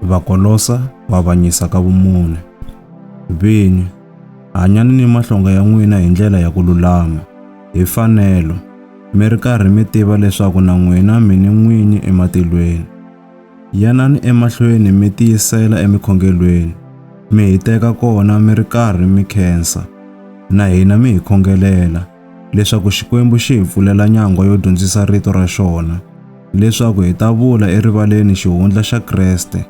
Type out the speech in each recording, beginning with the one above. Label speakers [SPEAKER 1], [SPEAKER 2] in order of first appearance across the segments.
[SPEAKER 1] Vakolosa ku avanyisa ka vumune. Vinyi, hanyani ni mahlonga ya n'wina hi ndlela ya ku lulama, hi fanelo, mi ri karhi mi tiva leswaku na n'wina mi ni n'winyi ematilweni. Yanani emahlweni mi tiyisela emikhongelweni, mi hi teka kona mi ri karhi mi khensa, na hina mi hi khongelela, leswaku Xikwembu xi hi pfulela nyangwa yo dyondzisa rito ra xona, leswaku hi ta vula erivaleni xihundla xa Kreste,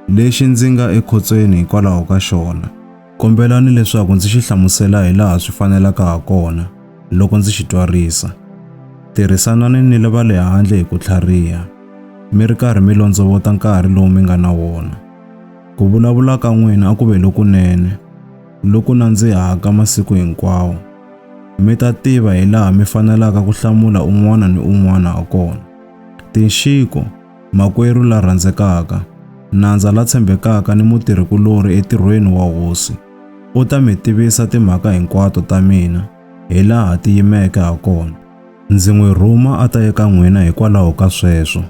[SPEAKER 1] lexi ndzi nga ekhotsweni hikwalaho ka xona. Kombelani leswaku ndzi xi hlamusela hi laha swi fanelaka ha kona loko ndzi xi twarisa. Tirhisanani ni va le handle hi ku tlhariha, mi ri karhi mi londzovota nkarhi lowu mi nga na wona. Ku vulavula ka n'wina a ku ve lokunene, loku nandzihaka masiku hinkwawo. Mi ta tiva hi laha mi fanelaka ku hlamula un'wana ni un'wana ha kona. Tinxiko, makwerhu la rhandzekaka, nandza la tshembekaka ni mutirhi-kulorhi etirhweni wa Hosi, u ta mi tivisa timhaka hinkwato ta mina hi laha ti yimeke ha kona. Ndzi n'wi rhuma a ta eka n'wina hikwalaho ka sweswo,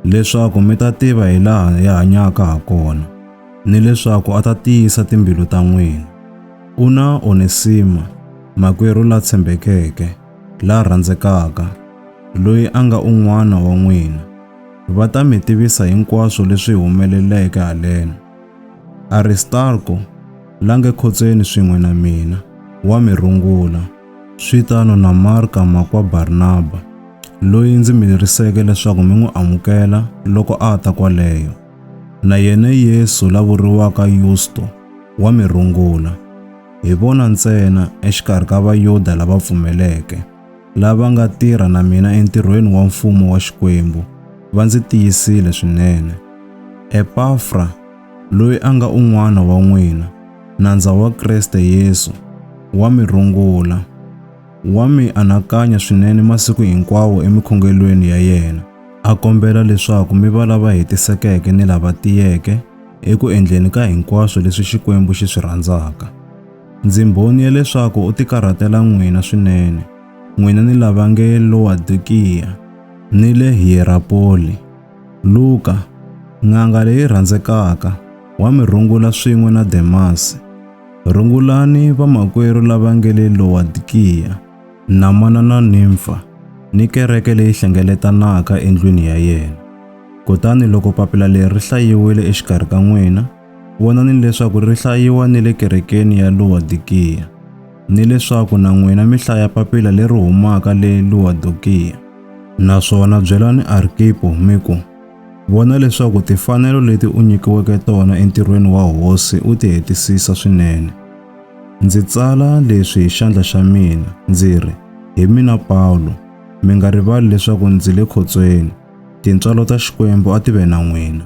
[SPEAKER 1] leswaku mi ta tiva hi laha hi hanyaka ha kona. ni leswaku a ta tiyisa timbilu ta n'wina. U na Onesima, makwerhu la tshembekeke, la rhandzekaka, loyi a nga un'wana wa n'wina. Va ta mi tivisa hinkwaswo leswi humeleleke haleno. Aristarko, la nge khotsweni swin'we na mina, wa mi rungula, swi tano na Marka makwa Barnaba, loyi ndzi mi leriseke leswaku mi n'wi amukela loko a ta kwaleyo. Na yena Yesu la vuriwaka Yusto wa mi rungula, hi vona ntsena exikarhi ka Vayuda lava pfumeleke, lava nga tirha na mina entirhweni wa Mfumo wa Xikwembu, va ndzi tiyisile swinene. Epafra, loyi a nga un'wana wa n'wina, nandza wa Kriste Yesu, wa mi rungula, wa mi anakanya swinene masiku hinkwawo emikhongelweni ya yena. a kombela leswaku mi va lava hetisekeke ni lava tiyeke eku endleni ka hinkwaswo leswi Xikwembu xi swi rhandzaka. Ndzi mbhoni ya leswaku u tikarhatela n'wina swinene, n'wina ni lava nge Lowadokiya ni le Hiyerapoli. Luka, n'anga leyi rhandzekaka, wa mi rungula swin'we na Demasi. Rungulani vamakwerhu lava nge le Lowadokiya. na mana na nimfa ni kereke leyi hlengeletanaka endlwini ya yena. Kutani loko papila leri ri hlayiwile exikarhi ka n'wina, vonani leswaku ri hlayiwa ni le kerekeni ya Luwadikiya, ni leswaku na n'wina mi hlaya papila leri humaka le Luwadokiya. Naswona byelani Arkipo mi ku, Vona leswaku timfanelo leti u nyikiweke tona entirhweni wa Hosi u ti hetisisa swinene. Ndzi tsala leswi hi xandla xa mina, ndzi ri, Hi mina Pawulo, mi nga rivali leswaku ndzi le khotsweni. Tintswalo ta Xikwembu a ti ve na n'wina.